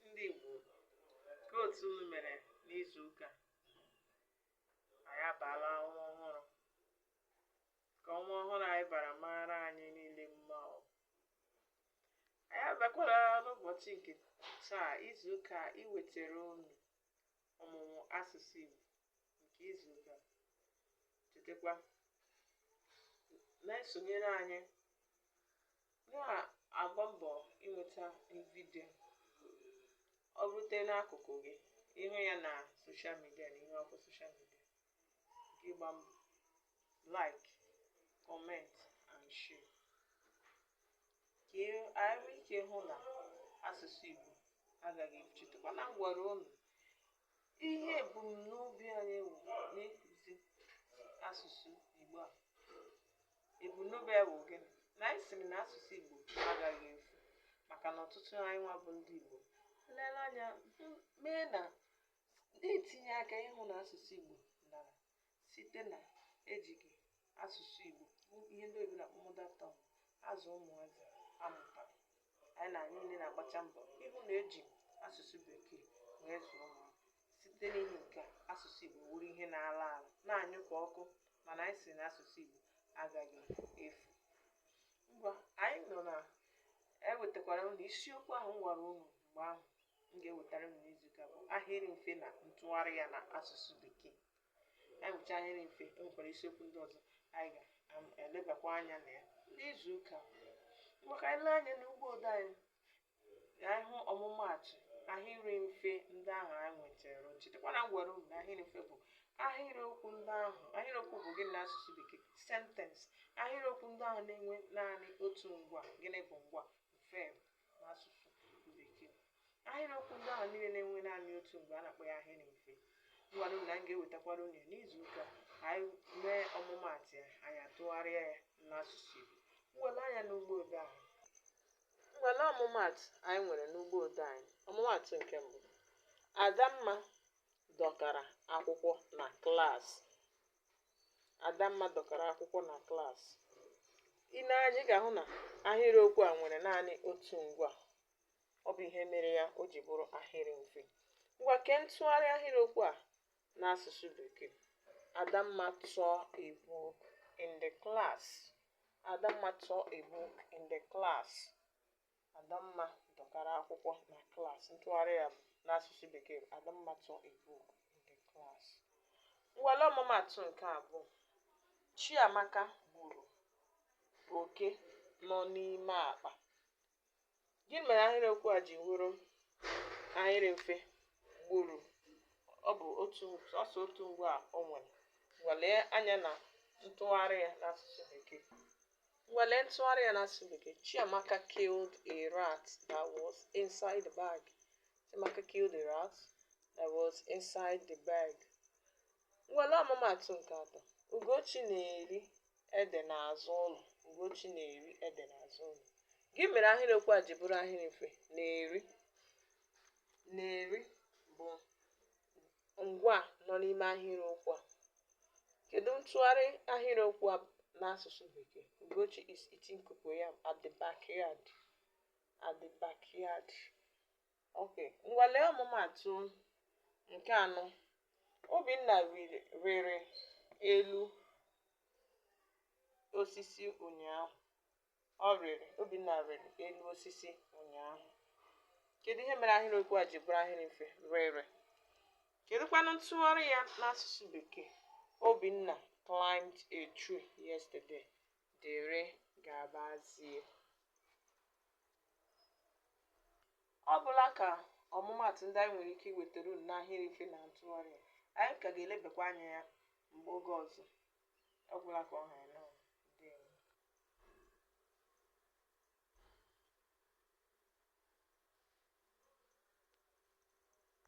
ndị Igbo kee otu unu mere n'izu ụka anyị abaala ọnwa ọhụrụ ka ọnwa ọhụrụ anyị bara mara anyị niile mma ọ anyị abịakwala n'ụbọchị nke taa izu ụka iwetara unu ọmụmụ asụsụ Igbo nke izu ụka chetakwa na-esonyere anyị na-agba mbọ i nweta vidio ọ rute n'akụkụ gị ị hụ ya na soshal midia na ihe ọkụ soshal midia gị gba mbọ like comment and share ka e- anyị nwee ike hụ na asụsụ igbo agaghị efu chetakwa na m gwara unu Ihe ebumnobi anyị wụ n'ịkụzi asụsụ Igbo a. Ebumnobi anyị wụ gịnị? Na anyị sịrị na asụsụ Igbo agaghị efu maka na ọtụtụ anyị nwa bụ ndị Igbo lere anya hụ- mee na na-etinye aka ịhụ na asụsụ Igbo dara Site na ejighị asụsụ Igbo bụ ihe ndị oyibo na-akpọ mother tongue azụ ụmụazị a mụtara, anyị na anyị niile na-agbacha mbọ ịhụ na eji asụsụ bekee wee zụọ ụmụaka. Site n'ihi nke a, asụsụ Igbo wụrụ ihe na-ala ala, na-anyụ ka ọkụ mana anyị sị na asụsụ Igbo agaghị efu. Ngwa anyị nọ na ewetakwara unu isiokwu ahụ m gwara unu mgbe ahụ m ga-ewetara unu n'izuụka bụ ahịrị mfe na ntụgharị ya na asụsụ bekee. anyị nwecha ahịrị mfe e nwekwara isiokwu ndị ọzọ anyị ga-elebakwa anya na ya n'izu ụka ma ka anyị lee anya n'ugbo ode anyị na anyị hụ ọmụmaatụ ahịrị mfe ndị ahụ anyị nwetara chetakwa na m gwara unu na ahịrị mfe bụ ahịrịokwu ndị ahụ ahịrịokwu bụ gịnị n'asụsụ bekee sentence ahịrịokwu ndị ahụ na-enwe naanị otu ngwa gịnị bụ ngwa verb n'asụsụ ahịrịokwu ndị ahụ niile na-enwe naanị otu ngwa a na-akpọ ya ahịrị mfe m gwara unu na m ga-ewetakwara unu n'izu ụka ka anyị mee ọmụmaatụ ya anyị atụgharịa ya n'asụsụ Igbo ngwa lee anya n'ugbo ode anyị ngwa lee ọmụmaatụ anyị nwere n'ugbo ode anyị ọmụmaatụ nke mbụ Adamma dọkara akwụkwọ na klaasị Adamma dọkara akwụkwọ na klaasị i nee anya ị ga-ahụ na ahịrịokwu a nwere naanị otu ngwa ọ bụ ihe mere ya o ji bụrụ ahịrị mfe ngwa kee ntụgharị ahịrịokwu a n'asụsụ bekee adamma tore a book in the class adamma tore a book in the class adamma dọkara akwụkwọ na klaasị ntụgharị ya n'asụsụ bekee bụ adamma tore a book in the class ngwa lee ọmụmaatụ nke abụọ chiamaka gburu oke nọ n'ime akpa gịnị mere ahịrịokwu a ji wụrụ ahịrị mfe gburu ọ bụ sọsọ otu ngwaa o nwere ngwa lee anya na ntụgharị ya n'asụsụ bekee ngwa lee ntụgharị ya n'asụsụ bekee chiamaka killed a rat that was inside the bag chiamaka killed a rat that was inside the bag Ngwa lee ọmụmaatụ nke atọ. Ugochi na-eri ede n'azụ ụlọ. Ugochi na-eri ede n'azụ ụlọ. Gịnị mere ahịrịokwu a ji bụrụ ahịrị mfe na-eri na-eri bụ ngwaa nọ n'ime ahịrịokwu a. Kedu ntụgharị ahịrịokwu a n'asụsụ Bekee? Ugochi is eating cocoyam at the backyard. At the backyard. Ok, ngwa lee ọmụmaatụ nke anọ. Obinna rịrị elu osisi ụnyaahụ. Ọ rịrị, Obinna rịrị elu osisi ụnyaahụ. Kedu ihe mere ahịrịokwu a ji bụrụ ahịrị mfe? Rịrị. Kedụkwanụ ntụgharị ya n'asụsụ Bekee? Obinna climbed a tree yesterday. Dere gabazie. Ọ bụla ka ọmụmaatụ ndị anyị nwere ike iwetara unu n'ahịrị mfe na ntụgharị ya, anyị ka ga-elebakwa anya ya mgbe oge ọzọ. Ọ gwụla ka ọ ha ya n'ọnụ. Ndewo.